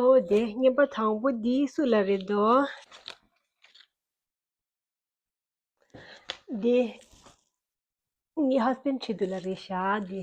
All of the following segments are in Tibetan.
ཨོ་དེ་བརྙན་པ་དང་པོ་འདི་སུ་ལ་རེད་དོ། འདི་ངའི་ཧཱ་སྤེན་ཁྲི་དུ་ལ་རེད་ཤག་འདི།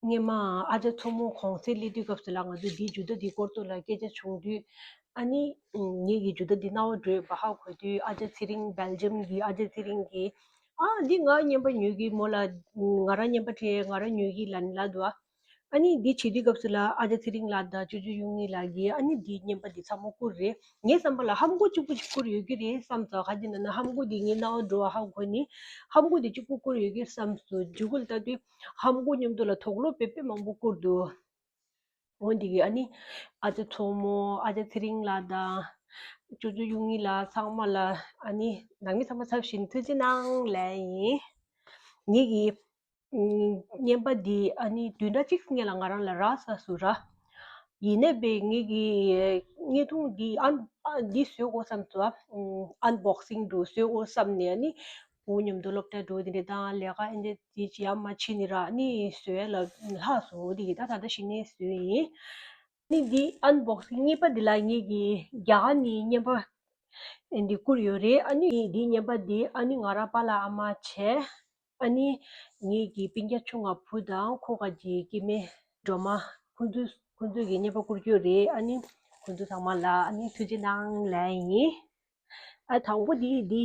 སྔོན་མ་ཨ་ཅག་མཚོ་མོ་གོང་གསལ་གླེང་དུས་སྐབས་སུ་ལ་ང་ཚོས་འདིའི་ཇུས་གཏོགས་འདིའི་སྐོར་ཙོག་ལ་སྐད་ཆ་བྱུང་དུས་ཨ་ནི་ངེད་ཀྱིས་ཇུས་གཏོགས་འདི་གནའ་བོ་བགྲོད་བག་ཧ་གོ་དུས་ཨ་ཅག་ཚེ་རིང Belgium གྱི་ཨ་ཅག་ཚེ་རིང་གིས་ཨ་འདི་ང་རྙེད་པ་ཉོས་གི་མོ་ལ་ང་རང་རྙེད་པ་དེ་ང་རང་ཉོས་གི་ལན་ལ་དུ་ཨ་ཨ་ནི་འདི་བྱེད་དུས་སྐབས་སུ་ལ་ཨ་ཅག་ཚེ་རིང་ལགས་དང་ཅོ་ཅོ་གཡུ་ངྷི་ལགས་ཀྱིས་ཨ་ནི་འདི་རྙེད་པ་འདི་ཚ་མོ་བསྐུར་རེད་ངའི་བསམ་པ་ལ་ཧམ་སྐུར་གཅིག་པུ་ཅིག་བསྐུར་ཡོད་ཀྱི་རེད་བསམས་སོ་ཧ་འདི་ན་ན་ཧམ་སྐུར་འདི་ངས་གནའ་བོ་བགྲོད་བག་ཧ་གོ་ནས་ཧམ་སྐུར་འདི་ཅིག་པུ་བསྐུར་ཡོད་ཀྱི་བསམས་སོ་ཇུས་འགོད་ལྟ་དུས་ཧམ་སྒོ་སྙོམས་དུ་ལ་དོགས་སློབ་པའི་དཔེ་མང་པོ་བསྐུར་འདུག་འོན་ཏེ་ཨ་ནི་ཨ་ཙེ་མཚོ་མོ་ཨ་ཙེ་ཚེ་རིང་ལགས་དང་ཅོ་ཅོ་གཡུ་ངི་ལགས་ཚང་མ་ལ་ཨ་ནི་ནང་མི་ཚང་མ་ཚབ་བཞིན་ཐུགས་རྗེ་གནང་ལན་ཡིན། ངེད་ཀྱི་བརྙན་པ་འདི་ཨ་ནི་དུས་འདྲ་གཅིག་བརྙན་ལ་ང་རང་ལ་རག་ས་སུ་རག་ཡིན་ནད་པས་ངེད་ཀྱི་བརྙན་ཐུང་འདི་འདི་བཟོས་འོ་བསམ་དུ་ཨན་བོག་སིང་དུ་བཟོས་འོ་བསམ་ནས་ཨ་ནི་འོ་སྙམ་དུ་སློབ་གྲྭའི་སྒྲོལ་འདི་ནི་ད་ལས་ཀ་ཨེ་འདས་འདི་ཅི་ཡང་མ་མཆིས་ནི་རག་ནི་བཟོད་ལ་ལྷགས་སོ་འདི་ཡི་ད་ད་ལྟ་ཤི་ནི་བཟོད་ཡིན། ནི་འདི་ཨན་བོག་སི་གཉིས་པ་འདི་ལ་ངེད་ཀྱི་རྒྱ་ག་ནི་སྙན་པ་འདི་བསྐུར་ཡོད་རེད་ཨ་ནི་འདི་སྙན་པ་འདི་ཨ་ནི་ང་རང་པ་ལ་ཨ་མ་བྱས་ཨ་ནི་ངེད་ཀྱི་སྤིན་རྒྱ་ཆུང་ང་བུ་དང་ཁོ་ག་གྱི་སྐྱེས་མའི་སྒྲོལ་མ་ཁོ་ཚོས་ཁོ་ཚོས་ཀྱི་སྙན་པ་བསྐུར་རྒྱུ་རེད་ཨ་ནི་ཁོ་ཚོ་ཚང་མ་ལ་ཨ་ནི་ཐུགས་རྗེ་གནང་ལན་ཡིན་ཨ་དང་པོ་འདི་འདི།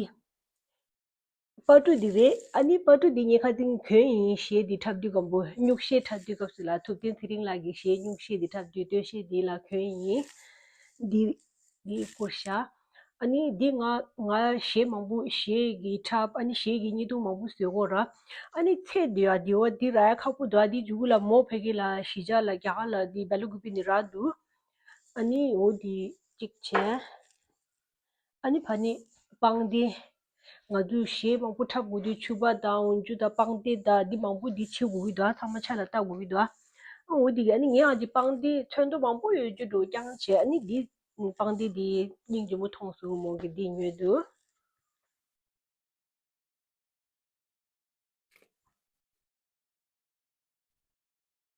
སྤ་གྲུ་འདི་རེད་ཨ་ནི་སྤ་གྲུ་འདི་ཉེ་ཁ་འཛིང་དོན་ཡིན་ཞེས་འདི་འཁྲབ་དུས་སྒམ་པོ་སྙུག་ཤེས་འཁྲབ་དུས་སྐབས་སུ་ལ་ཐུབ་བསྟན་ཚེ་རིང་ལགས་ཀྱིས་ཞེས་སྙུག་ཤེས་འདི་འཁྲབ་དུས་སྟོན་ཤེས་འདི་ལ་གྱོན་ཡིན། འདི། འདི་བསྐུར་བྱ། ཨ་ནི་འདི་ང་ང་ཞེས་མང་པོ་ཞེས་ཀྱིས་འཁྲབ་ཨ་ནི་ཞེས་ཀྱིས་གཉིས་རྡུང་མང་པོ་བཟོས་གོ་ར། ཨ་ནི་ཚེ་འདི་ཨ་འདི་ཨོ་འདི་ར་ཡ་ཁག་པོ་འདུག་ཨ་འདི་འཇུག་གུ་ལ་མོ་བྷེ་གི་ལ་ཞི་ཇ་ལ་རྒྱ་གར་ལ་འདི་བྷེ་ལུ་གུ་པི་ནི་ར་འདུག་ཨ་ནི་ཨོ་འདི་གཅིག་བྱས། ཨ་ནི་བ་ནི་སྤང་སྟེ། ང་ཚོས་གཞས་མང་པོ་འཁྲབ་དགོས་དུས་ཆུ་བ་དང་འོན་ཆུ་དང་སྤང་སྟེ་དང་འདི་མང་པོ་འདི་བྱེད་དགོས་ཀྱི་འདུག་ཨ་ཚང་མ་ཆ་ལ་བལྟ་དགོས་ཀྱི་འདུག་ཨ། འོ་དེ་གས་ཨ་ནི་ངའང་འདི་སྤང་སྟེ་ཚོན་མདོག་མང་པོ་ཡོད་རྒྱུ་འགྲོ་རྐྱང་བྱས་ཨ་ནི་འདི་སྤང་སྟེ་འདི་སྙིང་རྗེ་མོ་ཐོངས་སོང་མོ་གི་འདི་ཉོས་དུ།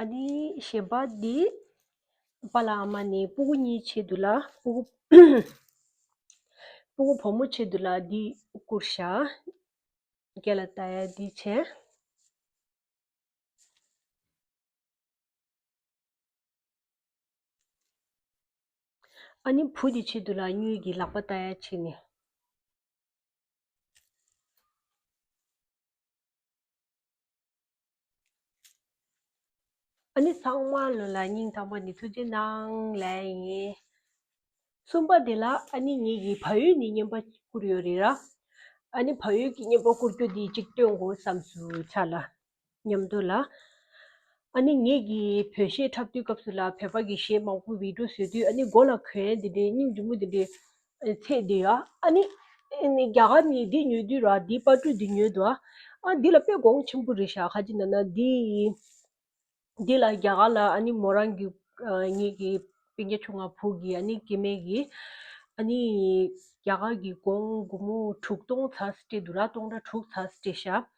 གཞན་པ་འདི་པཱ་ལ་ཨ་མ་ནི་སྤུ་གུ་གཉིས་ཆེད་དུ་ལ་སྤུ་གུ་སྤུ་གུ་བུ་མོ་ཆེད་དུ་ལ་འདི་བསྐུར་བྱ། རྒྱ་ལ་ཏཱ་ཡ་འདི་བྱེད། ཨ་ནི་བུ་འདི་ཆེད་དུ་ལ་སྨྱོས་ཀྱི་ལག་པ་ཏཱ་ཡ་བྱེད་ནས། ཨ་ནི་ཚངས་མ་ལོན་ལ་སྙིང་ཐག་པ་ནི་ཐུགས་རྗེ་གནང་ལས་ཡིན། གསུམ་པ་དེ་ལ་ཨ་ནི་ཉིད་ཀྱི་ཕ་ཡུལ་ནས་བསྙེན་པ་བསྐུར་ཡོད་རེད་ར། ཨ་ནི་ཕ་ཡུལ་གྱི་བསྙེན་པ་བསྐུར་རྒྱུ་དེ་ཅིག་སྟོན་དགོས་བསམ་སུ་ཆགས་ལ། ཉམས་དོད་ལ། ཨ་ནི་ཉིད་ཀྱི་བོད་གཞས་འཁྲབ་དུས་སྐབས་སུ་ལ་བོད་པ་གི་གཞས་མང་པོ་བིད་འགྲོ་བཟོས་དུས་ཨ་ནི་མགོ་ལ་གོན་དེ་འདྲའི་སྙིང་རྗེ་མོ་དེ་འདྲའི་ཚེ་འདི་ཡ་ཨ་ནི། རྒྱ་གར་ནི་འདི་ཉོས་དུས་ར་འདི་དཔའ་སྤྲུལ་འདི་ཉོས་དུ་ཨ། ཨ་འདི་ལ་དཔེ་དགོངས་ཆེན་པོ་རེ་ཞག་ཁ་ཅིག་འདི་ན་འདི། འདི་ལ་རྒྱ་གར་ལ་ཨ་ནི་མོ་རང་གི་ངེད་ཀྱི་བན་རྒྱ་ཆུང་མ་བུ་གི་ཨ་ནི་སྐྱེ་མེད་ཀྱི། ཨ་ནི། རྒྱ་གར་གྱི་དགོངས་དགུང་མོ་དྲུག་སྟོང་ཚ་སྲི་སྤྲེལ་དུ་ར་སྟོང་ར་དྲུག་ཚ་སྲི་སྤྲེལ་ཞག།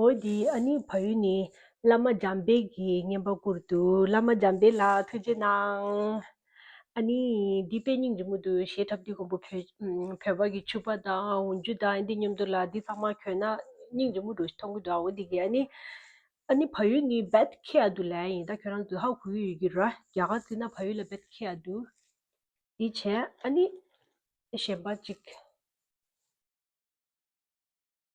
འོ་དེ་ཨ་ནི་ཕ་ཡུལ་ནས་བླ་མ་འཇམ་དཔལ་གྱིས་བསྙེན་པ་བསྐུར་འདུག་བླ་མ་འཇམ་དཔལ་ལགས་ཐུགས་རྗེ་གནང། ཨ་ནི་འདི་དཔེ་རྙིང་རིང་མོ་འདུག་གཞས་འཁྲབ་དུས་ཁོང་པོ་བོད་པ་གི་ཕྱུ་པ་དང་འུར་འཇུ་དང་ཨ་འདི་སྙམ་དུ་ལ་འདི་ཚང་མ་གྱོན་ན་རྙིང་རིང་མོ་འདུག་མཐོང་གི་འདུག་འོ་དེ་གི་ཨ་ནི་ཨ་ནི་ཕ་ཡུལ་ནི་བད་ཁེ་ཡ་འདུག་ལན་ཡིན་ད་ཁྱོད་རང་ཀི་ཧ་གོ་གི་ཡོད་ཀྱི་ར་རྒྱ་གར་ཚིག་ན་ཕ་ཡུལ་ལ་བད་ཁེ་ཡ་འདུག་དེ་བྱས་ཨ་ནི་གཞན་པ་ཅིག།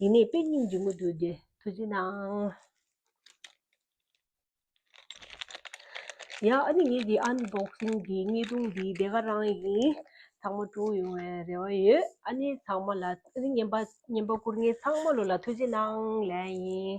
ཡིན་ནའི་དཔེ་རྙིང་འབྱུང་མོད་དུས་དེ་དུས་ཀྱི་ནང། ཡ་ཨ་ནི་ངེད་ཀྱི་ཨན་འབོག་སྲིན་གྱི་རྙི་གདུང་འདི་དེ་ག་རང་ཡིན་ཚང་མ་དྲུག་ཡོང་བའི་རེ་བ་ཡོད་ཨ་ནི་ཚང་མ་ལ་ཨ་ནི་སྙན་པ་སྙན་པ་བསྐུར་ངེད་ཚང་མ་ལོ་ལ་ཐུགས་རྗེ་གནང་ལན་ཡིན།